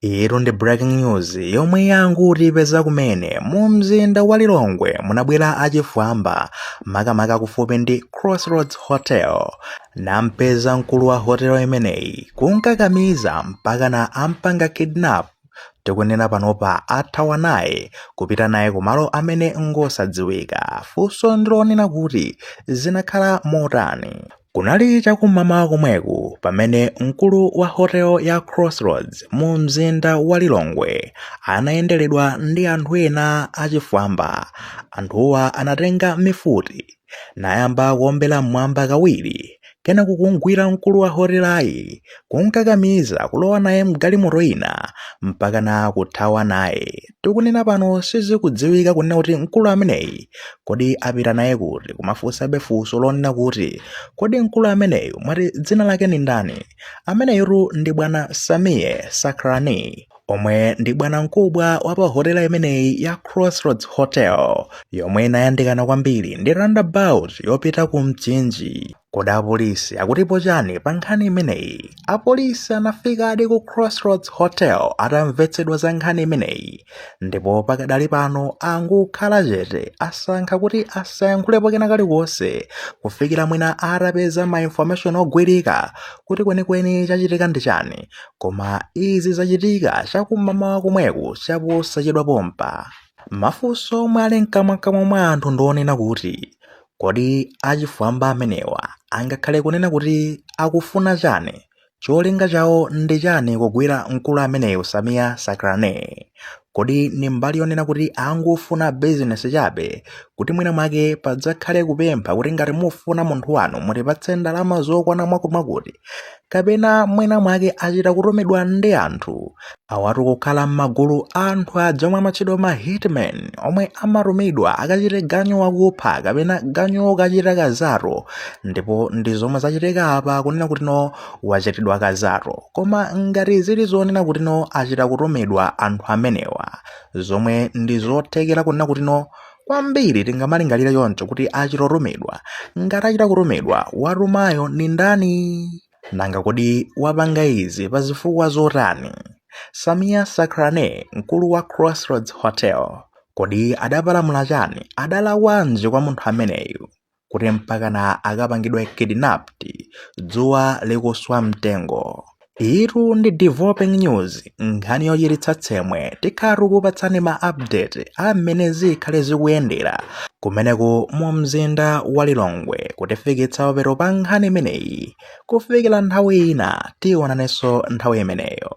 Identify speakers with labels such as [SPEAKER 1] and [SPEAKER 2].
[SPEAKER 1] Iyitu ndi breaking news yomwe yangotipeza kumene mu mzinda wa Lilongwe munabwera achifwamba makamaka kufupi ndi Crossroads Hotel nampeza mkulu wa hotel imeneyi kumkakamiza mpakana ampanga kidnap tikunena panopa athawa naye kupita naye kumalo amene ngosadziwika funso ndilonena kuti zinakhala motani Kunali chakum'mamawa komweku pamene mkulu wa hotel ya Crossroads mu mzinda wa Lilongwe anayenderedwa ndi anthu ena achifwamba. Anthuwa anatenga mifuti nayamba kuombera m'mwamba kawiri kenako kumgwira mkulu wa hotelayi kumkakamiza kulowa naye mgalimoto ina mpakana kuthawa naye. tikunena pano sizikudziwika kunena kuti mkulu ameneyi kodi apita naye kuti koma funsa abe funso lonena kuti kodi mkulu ameneyu mwati dzina lake ndi ndani ameneyotu ndi bwana Sameer Sacranie omwe ndi bwana mkubwa wa pa hotela imeneyi ya crossroads hotel yomwe inayandikana kwambiri ndi roundabout yopita ku mchinji Kodi apolisi akutipo chani pa nkhani imeneyi? Apolisi anafikadi ku Crossroads Hotel atamvetsedwa za nkhani imeneyi ndipo pakadali pano angokhala chete asankha kuti asayankhulepo kena kalikonse kufikira mwina atapeza ma information ogwirika kuti kwenikweni chachitika ndi chani. Koma izi zachitika chakum'mamawa komweku chaposachedwa pompa. Mafunso omwe ali mkamwamkamwa mwa anthu ndi onena kuti, Kodi achifwamba amenewa angakhale kunena kuti akufuna chani? Cholinga chawo ndi chani kugwira mkulu ameneyu Sameer Sacranie? Kodi ndi mbali yonena kuti angofuna business chabe kuti mwina mwake padzakhale kupempha kuti ngati mufuna munthu wanu mutipatse ndalama zokwana mwamwakuti kapena mwina mwake achita kutumidwa ndi anthu awatu kukhala m'magulu a anthu aja omwe amatchedwa ma hitman omwe amatumidwa akachite ganyu wokupha kapena ganyu wokachita kazato ndipo ndi zomwe zachitika apa kunena kuti no wachitidwa kazato koma ngati zili zonena kuti no achita kutumidwa anthu amenewa zomwe ndi zothekera kunena kuti no Kwambiri tingamalingalire choncho kuti achita kutumidwa. Ngati achita kutumidwa, watumayo ndi ndani? Nanga kodi wapanga izi pa zifukwa zotani? Sameer Sacranie, mkulu wa Crossroads Hotel, kodi adapalamula chani? Adalakwanji kwa munthu ameneyu? kuti mpakana akapangidwe kidnapped dzuwa likuswa mtengo iyitu ndi developing news nkhani yochititsa tsembwe tikhala tikupatsani ma update a mmene zikhale zikuyendera kumeneku mu mzinda wa lilongwe kutifikitsa papero pa nkhani imeneyi kufikira nthawi ina tionanenso nthawi imeneyo